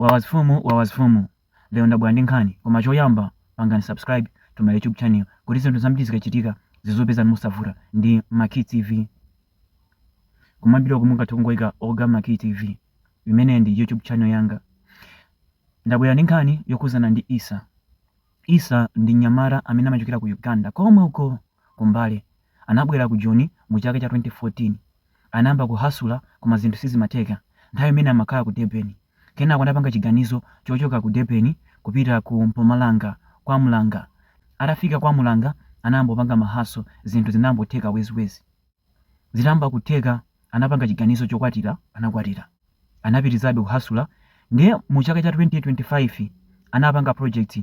Wawas Fumu, Wawas Fumu. Lero ndabwera ndi nkhani, koma choyamba pangani subscribe to my YouTube channel kuti zinthu zambiri zikachitika zizikupezani mosavuta ndi Maki TV. Kumambira uku mungathe kungoika Oga Maki TV. Imene ndi YouTube channel yanga. Ndabwera ndi nkhani yokhuzana ndi Isa. Isa ndi nyamata amene amachokera ku Uganda komwe uko ku Mbale Anabwera ku Joni mu chaka cha 2014. Anayamba kuhasula koma zinthu sizimatheka nthawi imene amakhala ku Durban. Kenako anapanga chiganizo chochoka ku Durban kupita ku Mpumalanga KwaMhlanga. Atafika KwaMhlanga anayamba kupanga ma hustle zinthu zinayambotheka wezi-wezi. Zitayamba kutheka anapanga chiganizo chokwatira, anakwatira. Anapitilizabe kuhasula ndiye mu chaka cha 2025 anapanga project.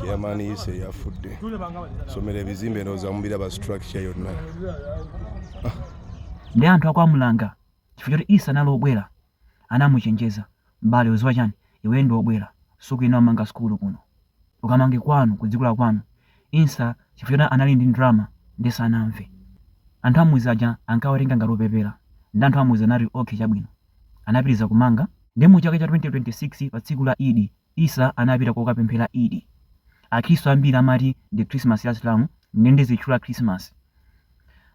chairman eh, ise yafudde somera ebizimbe ndowooza mubiraba structure yonna naye anthu a kwamhlanga chifukwa choti isa anali obwera anamuchenjeza mbale uziwa chani iwe ndi obwera sukuyenera kumanga sukulu kuno ukamange kwanu kudziko la kwanu isa chifukwa choti anali ndi ndrama nde sanamve anthu amuzi aja ankawatenga ngati opepera nde anthu amuzi anati okay chabwino anapitiliza kumanga nde mu chaka cha 2026 pa tsiku la Eid Issa anapita kokapemphera Eid. Akhristu ambiri amati ndi Christmas ya Asilamu nde ndizitchula Christmas.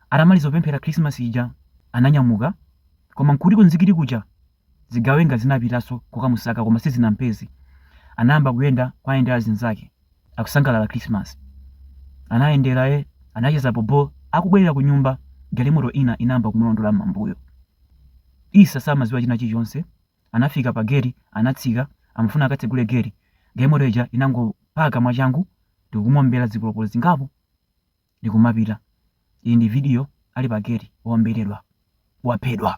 Atamaliza kupemphera Christmas ija ananyamuka koma nkuti ku nzikiti kuja zigawenga zinapitaso kokamusaka koma sizinampeze. Anayamba kuyenda kuwayendera azinzake. akusangalala Christmas. Anayendera eh, anacheza bobo, akubwerera kunyumba, galimoto ina inayamba kumulondola m'mambuyo. Issa samadziwa china chilichonse, anafika pa gate, anatsika, amafuna akatsegule gate, galimoto ija inangopaka mwachangu ndikumuombera zipolopolo zingapo ndikumapita. Iyi ndi video ali pa gate waomberedwa, waphedwa.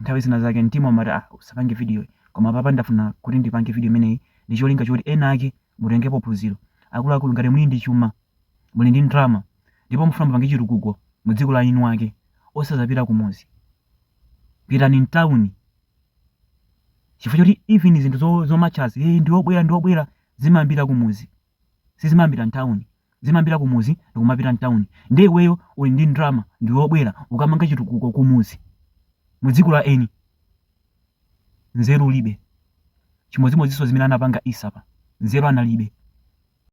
Nthawi zina zake mtima umati ah usapange videoyi koma apapa ndafuna kuti ndipange video imeneyi ndi cholinga choti ena ake mutengepo phunziro. Akuluakulu ngati muli ndi chuma, muli ndi ndalama ndipo mufuna mupange chitukuko mu dziko la eni wake osazapita kumudzi. Pitani mtauni chifukwa choti even zinthu zo- zomatchazi eh ndi obwera ndi obwera zimayambira kumudzi. sizimayambira mtown zimayambira kumuzi ndikumapita mtown nde iweyo uli ndi ndrama ndiwe obwera ukamanga chitukuko kumuzi mudziko la eni nzeru ulibe chimodzimodzinso zimene anapanga isapa nzeru analibe